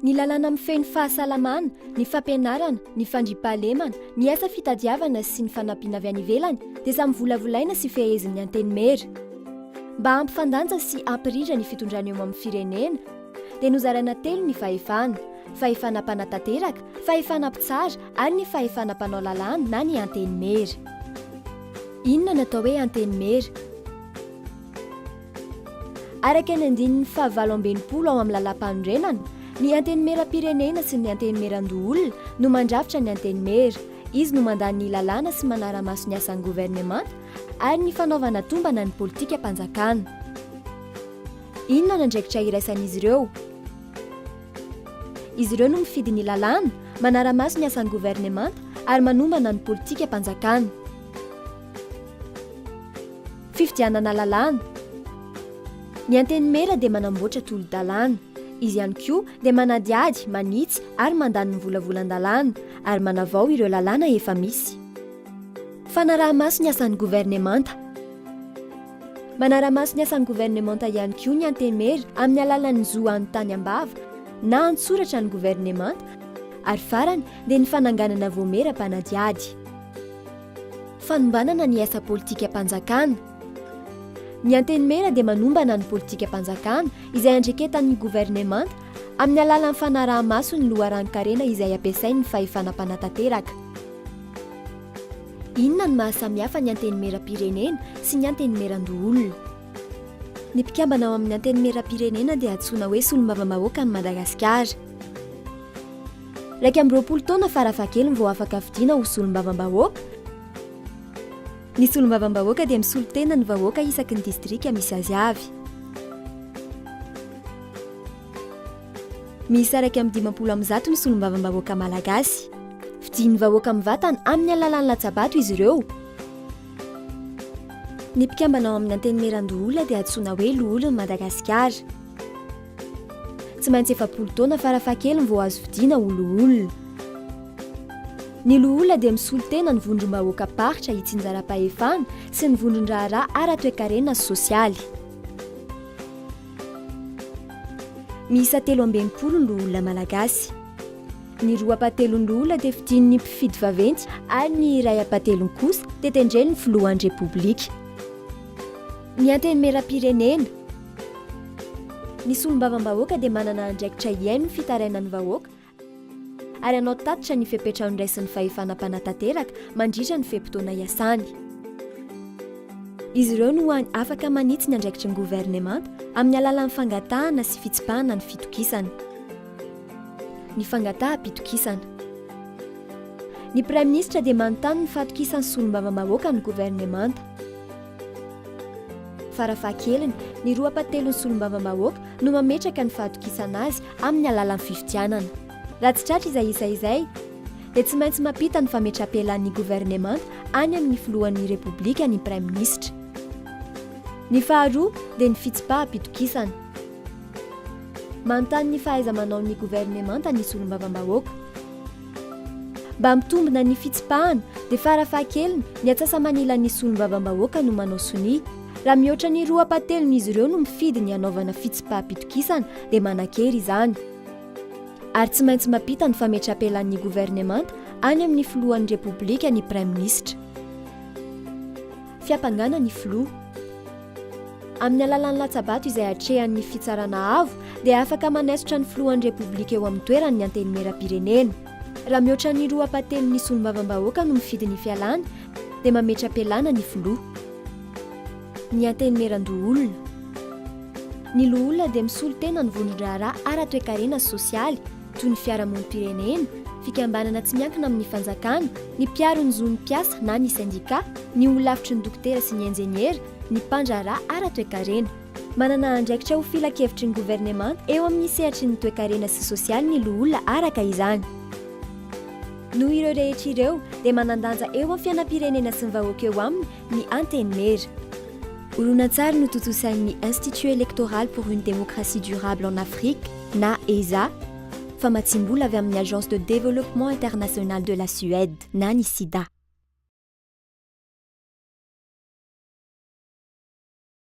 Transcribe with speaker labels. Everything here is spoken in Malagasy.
Speaker 1: Ny lalàna mifehy ny fahasalamana, ny fampianarana, ny fandriampahalemana, ny asa fitadiavana sy ny fanampiana avy any ivelany dia samy volavolaina sy fehezin'ny Antenimiera. Mba hampifandanja sy hampirindra ny fitondrana eo amin'ny firenena dia nozaraina telo ny fahefana, fahefana mpanatanteraka, fahefana mpitsara ary ny fahefana mpanao lalàna na ny Antenimiera. Inona no atao hoe Antenimiera? Araka ny andininy fahavalo amby enimpolo ao amin'ny Lalàmpanorenana, ny Antenimierampirenena sy ny Antenimierandoholona no mandrafitra ny Antenimiera. Izy no mandà ny lalàna sy manara-maso ny asan'ny governemanta ary ny fanaovana tombana ny politikam-panjakana. Inona ny andraikitra iraisan'izy ireo? Izy ireo no mifidy ny lalàna, manara-maso ny asan'ny governemanta ary manombana ny politikam-panjakana. Fifidianana lalàna. Ny Antenimiera dia manamboatra tolo-dalàna. Izy ihany koa dia manadihady, manitsy ary mandany ny volavolan-dalàna ary manavao ireo lalàna efa misy. Fanaraha-maso ny asan'ny governemanta. Manara-maso ny asan'ny governemanta ihany koa ny Antenimiera amin'ny alalan'ny zo hanontany am-bava na an-tsoratra ny governemanta ary farany dia ny fananganana voamiera mpanadihady. Fanombanana ny asa politikam-panjakana. Ny Antenimiera dia manombana ny politikam-panjakana izay andreketan'ny governemanta amin'ny alalan'ny fanaraha-maso ny loharanon-karena izay ampiasain'ny fahefana mpanatanteraka. Inona no mahasamihafa ny Antenimieram-pirenena sy ny Antenimieran-doholona? Ny mpikambana ao amin'ny Antenimieram-pirenena dia antsoina hoe Solombavambahoakan'i Madagasikara. Iraika amby roapolo taona farafahakeliny vao afaka fidiana ho solombavambahoaka. Ny solombavambahoaka dia misolo tena ny vahoaka isaky ny distrika misy azy avy. Miisa iraika amby dimampolo amin'ny zato ny solombavambahoaka malagasy. Fidian'ny vahoaka mivatana amin'ny alalan'ny latsabato izy ireo. Ny mpikambana ao amin'ny Antenimierandoholona dia antsoina hoe Loholon'i Madagasikara. Tsy maintsy efapolo taona farafahakeliny vao azo fidiana ho loholona. Ny loholona dia misolo tena ny vondrom-bahoakam-paritra itsinjaram-pahefana sy ny vondron-draharaha ara-toekarena sy sosialy. Miisa telo amby enimpolo ny loholona malagasy. Ny roa ampahatelon'ny loholona dia fidin'ny mpifidy vaventy ary ny iray ampahatelony kosa dia tendren'ny filohan'ny Repoblika. Ny Antenimierampirenena. Ny solombavambahoaka dia manana andraikitra hihaino ny fitarainan'ny vahoaka ary hanao tatitra ny fepetra andraisin'ny fahefana mpanatanteraka mandritra ny fe-potoana iasany. Izy ireo no hany afaka manitsy ny andraikitry ny governemanta amin'ny alalan'ny fangatahana sy fitsipahana ny fitokisana. Ny fangataham-pitokisana. Ny Praiminisitra dia manontany ny fatokisan'ny solombavambahoaka ny governemanta. Farafahakeliny, ny roa pa telon'ny solombavambahoaka no mametraka ny fahatokisana azy amin'ny alalan'ny fifidianana. Raha tsy tratra izay isa izay, dia tsy maintsy mampita ny fametrapelaan'ny governemanta any amin'ny filohan'ny Repoblika ny praiminisitra. Ny faharoa dia ny fitsipaham-pitokisana. Manontany ny fahaiza-manaon'ny governemanta ny solombavambahoaka. Mba hampitombina ny fitsipahana dia farafahakeliny ny atsasa-manilan'ny solombavambahoaka no manao sonia. Raha mihoatra ny roa ampahatelon'izy ireo no mifidy ny hanaovana fitsipaham-pitokisana dia manan-kery izany. Ary tsy maintsy mampita ny fametrapelanin'ny governemanta any amin'ny filohan'ny Repoblika ny Praiminisitra. Fiampangana ny filoha. Amin'ny alalan'ny latsa-bato izay atrehan'ny Fitsarana Avo dia afaka manaisotra ny Filohan'ny Repoblika eo amin'ny toerany ny Antenimierampirenena. Raha mihoatra ny roa apatelon'ny Solombavambahoaka no mifidy ny fialana dia mametra-pialana ny Filoha. Ny Antenimierandoholona. Ny Loholona dia misolo tena ny vondron-draharaha ara-toekarena sy sosialy, toy ny fiarahamonim-pirenena, fikambanana tsy miankina amin'ny fanjakana, ny mpiaro ny zon'ny mpiasa na ny sendikà, ny holafitry ny dokotera sy ny injeniera, ny mpandraharaha ara-toekarena. Manana andraikitra ho filankevitry ny governemanta eo amin'ny sehatry ny toekarena sy sosialy ny loholona araka izany. Noho ireo rehetra ireo, dia manan-danja eo amin'ny fiainam-pirenena sy ny vahoaka eo aminy ny Antenimiera. Horonantsary notontosain'ny Institut Electoral pour une Démocratie Durable en Afrique na EDHA, famatsiam-bola avy amin'ny Agence de Développement International de la Suède na ny Sida.